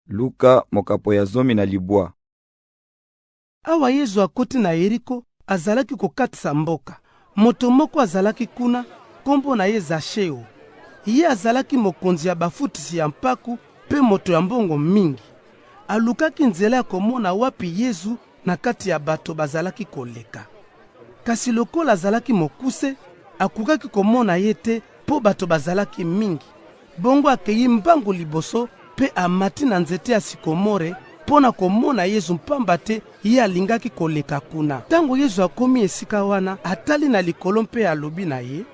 Luka mokapo ya zomi na libwa. Awa Yezu akoti na Yeriko, azalaki kokatisa mboka. Moto moko azalaki kuna, kombo na ye Zasheo. Ye azalaki mokonzi ya bafutisi ya mpaku mpe moto ya mbongo mingi. Alukaki nzela ya komona wapi Yezu na kati ya bato bazalaki koleka. Kasi lokola azalaki mokuse, akokaki komona ye te mpo bato bazalaki mingi. Bongo akei mbangu liboso mpe amati na nzete ya sikomore mpo na komona Yezu, mpamba te ye alingaki koleka kuna. Ntango Yezu akomi esika wana, atali na likolo mpe alobi na ye,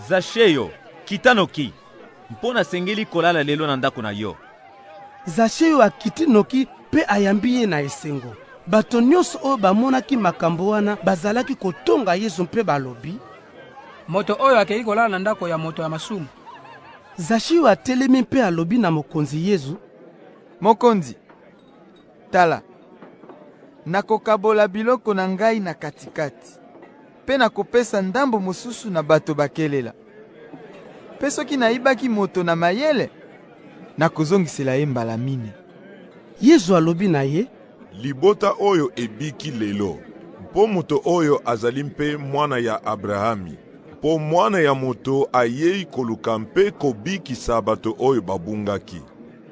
Zasheo, kita noki, mpo nasengeli kolala lelo na ndako na yo. Zasheo akiti noki mpe ayambi ye na esengo. Bato nyonso oyo bamonaki makambo wana bazalaki kotonga Yesu mpe balobi, Moto oyo akei kolala na ndako ya moto ya masumu. Zasheo atelemi mpe alobi na Mokonzi Yesu, Mokonzi, tala, nakokabola biloko na ngai na katikati. Mpe nakopesa ndambo mosusu na bato bakelela. Mpe soki nayibaki moto na mayele, nakozongisela ye mbala mine. Yezu alobi na ye, Libota oyo ebiki lelo, mpo moto oyo azali mpe mwana ya Abrahami. Mpo Mwana ya Moto ayei koluka mpe kobikisa bato oyo babungaki.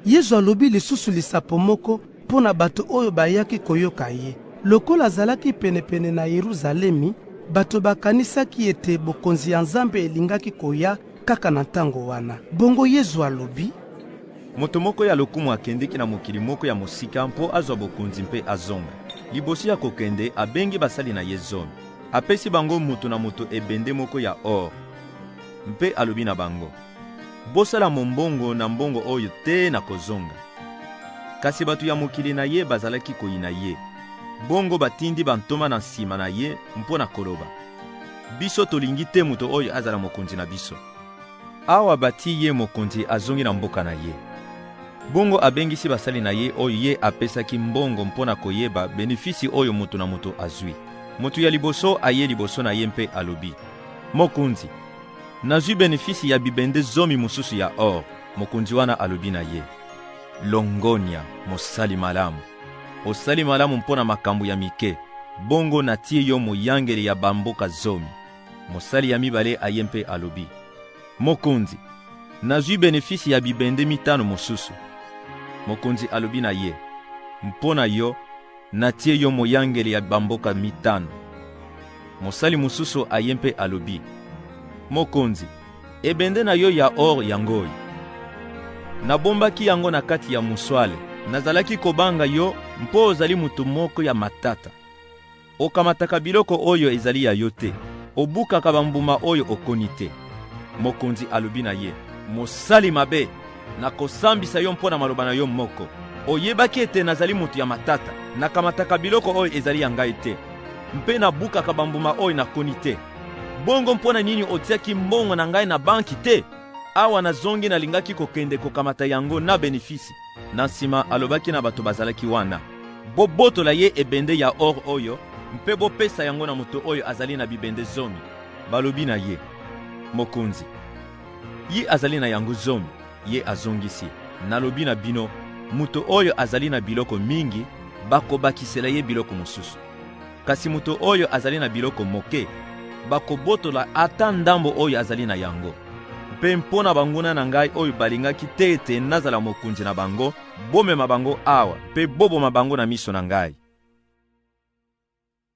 Yezu alobi lisusu lisapo moko mpo na bato oyo bayaki koyoka ye. Lokola azalaki penepene na Yeruzalemi, bato bakanisaki ete bokonzi ya Nzambe elingaki koya kaka na ntango wana. Bongo Yezu alobi. Moto moko ya lokumu akendeki na mokili moko ya mosika mpo azwa bokonzi mpe azonga. Liboso ya kokende, abengi basali na ye zomi. Apesi bango moto na moto ebende moko ya or mpe alobi na bango. Bosala mombongo na mbongo oyo te na kozonga. Kasi bato ya mokili na ye bazalaki koyina ye. Bongo batindi bantoma na nsima na ye mpo na koloba, biso tolingi te moto oyo azala mokonzi na biso. Awa bati ye mokonzi, azongi na mboka na ye. Bongo abengisi basali na ye oyo ye apesaki mbongo mpo na koyeba benefisi oyo moto na moto azwi. Moto ya liboso aye liboso na ye mpe alobi, Mokonzi, Nazwi benefisi ya bibende zomi mosusu ya or. Mokonzi wana alobi na ye, Longonya, mosali malamu! Osali malamu mpo na makambo ya mike, bongo natie yo moyangeli ya bamboka zomi. Mosali ya mibale aye mpe alobi, Mokonzi, nazwi benefisi ya bibende mitano mosusu. Mokonzi alobi na ye, Mpo na yo, Natie yo moyangeli ya bamboka mitano. Mosali mosusu aye mpe alobi, Mokonzi, ebende na yo ya or yango oyo. Nabombaki yango na kati ya muswale. Nazalaki kobanga yo mpo ozali moto moko ya matata. Okamataka biloko oyo ezali ya yo te, obukaka bambuma oyo okoni te. Mokonzi alobi na ye, mosali mabe! Nakosambisa yo mpo na maloba na yo moko. Oyebaki ete nazali moto ya matata, nakamataka biloko oyo ezali ya ngai te, mpe nabukaka bambuma oyo nakoni te. Bongo mpo na nini otiaki mbongo na ngai na banki te? Awa nazongi, nalingaki kokende kokamata yango na benefisi. Na nsima alobaki na bato bazalaki wana, Bobotola ye ebende ya or oyo mpe bopesa yango na moto oyo azali na bibende zomi. Balobi na ye, Mokonzi, Ye azali na yango zomi. Ye azongisi, Nalobi na bino, moto oyo azali na biloko mingi, bakobakisela ye biloko mosusu. Kasi moto oyo azali na biloko moke, bakobotola ata ndambo oyo azali na yango. Mpe mpo na banguna na ngai oyo balingaki te ete nazala mokonzi na bango, bomema bango awa mpe boboma bango na miso na ngai.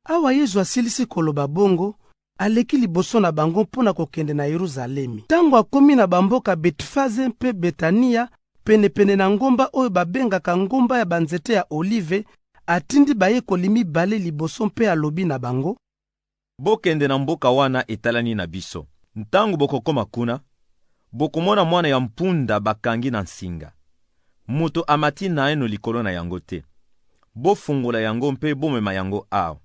Awa Yezu asilisi koloba bongo, aleki liboso na bango mpo na kokende na Yeruzalemi. Tango akomi na bamboka Betfaze mpe Betania, penepene na ngomba oyo babengaka Ngomba ya banzete ya Olive, atindi bayekoli mibale liboso mpe alobi na bango, Bokende na mboka wana etalani na biso. Tango bokokoma kuna, bokomona mwana ya mpunda bakangi na nsinga, Moto amati naeno likolo na yango te. Bofungola yango mpe bomema yango awa.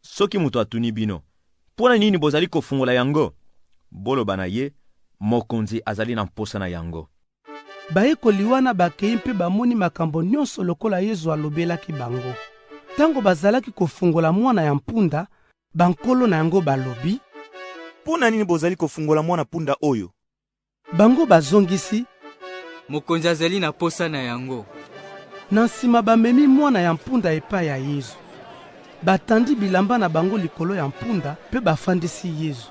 Soki moto atuni bino, Mpo na nini bozali kofungola yango? Boloba na ye, Mokonzi azali na mposa na yango. Bayekoli wana bakei mpe bamoni makambo nyonso lokola Yezu alobelaki bango. Tango bazalaki kofungola mwana ya mpunda, bankolo na yango balobi, Mpo na nini bozali kofungola mwana-punda oyo? Bango bazongisi, Mokonzi azali na posa na yango. Na nsima bamemi mwana ya mpunda epai ya Yezu. Batandi bilamba na bango likolo ya mpunda mpe bafandisi Yezu.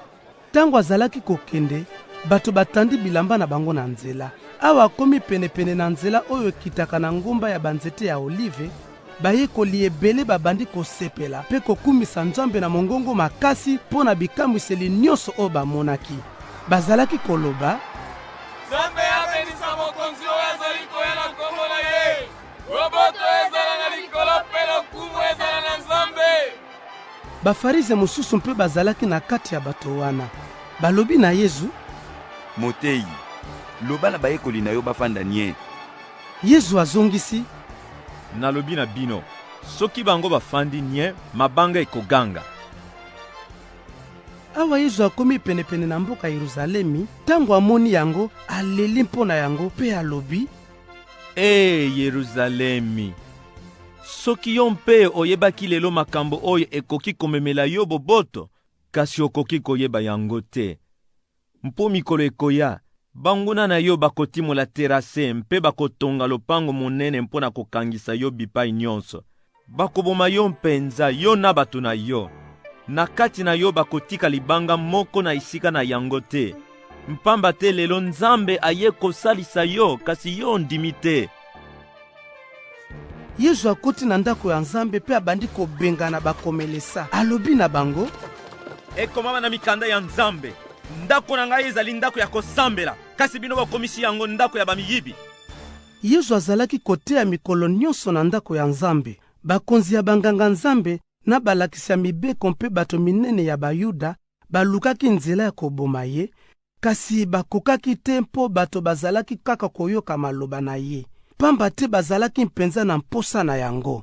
Ntango azalaki kokende, bato batandi bilamba na bango na nzela. Awa akomi penepene na nzela oyo ekitaka na ngomba ya banzete ya olive, Bayekoli ebele babandi kosepela mpe kokumisa Nzambe na mongongo makasi mpo na bikamwiseli nyonso oyo bamonaki. Bazalaki koloba, Nzambe abenisa Mokonzi oyo azali koya na nkombo na ye! Boboto ezala na likolo mpe lokumu ezala na Nzambe! Bafarize mosusu mpe bazalaki na kati ya bato wana. Balobi na Yezu, Moteyi, loba na bayekoli na yo bafanda nyee. Yezu azongisi, Nalobi na bino, soki bango bafandi nye, mabanga ekoganga. Awa Yezu akomi penepene na mboka Yeruzalemi, tango amoni yango, aleli mpo na yango mpe alobi, Ee Yeruzalemi, soki yo mpe oyebaki lelo makambo oyo ekoki komemela yo boboto, kasi okoki koyeba yango te. Mpo mikolo ekoya, banguna na yo bakotimola terase mpe bakotonga lopango monene mpo na kokangisa yo bipai nyonso. Bakoboma yo mpenza, yo na bato na yo. Na kati na yo bakotika libanga moko na esika na yango te, mpamba te lelo Nzambe aye kosalisa yo, kasi yo ondimi te. yezu akoti na ndako ya nzambe mpe abandi kobengana bakomelesa alobi na bango ekomama na mikanda ya nzambe ndako na ngai ezali ndako ya kosambela kasi bino bokomisi yango ndako ya bamiyibi yezu azalaki koteya mikolo nyonso na ndako ya nzambe bakonzi ya banganga-nzambe na balakisi ya mibeko mpe bato minene ya bayuda balukaki nzela ya koboma ye Kasi bakokaki te mpo bato bazalaki kaka koyoka maloba na ye, pamba te bazalaki mpenza na mposa na yango.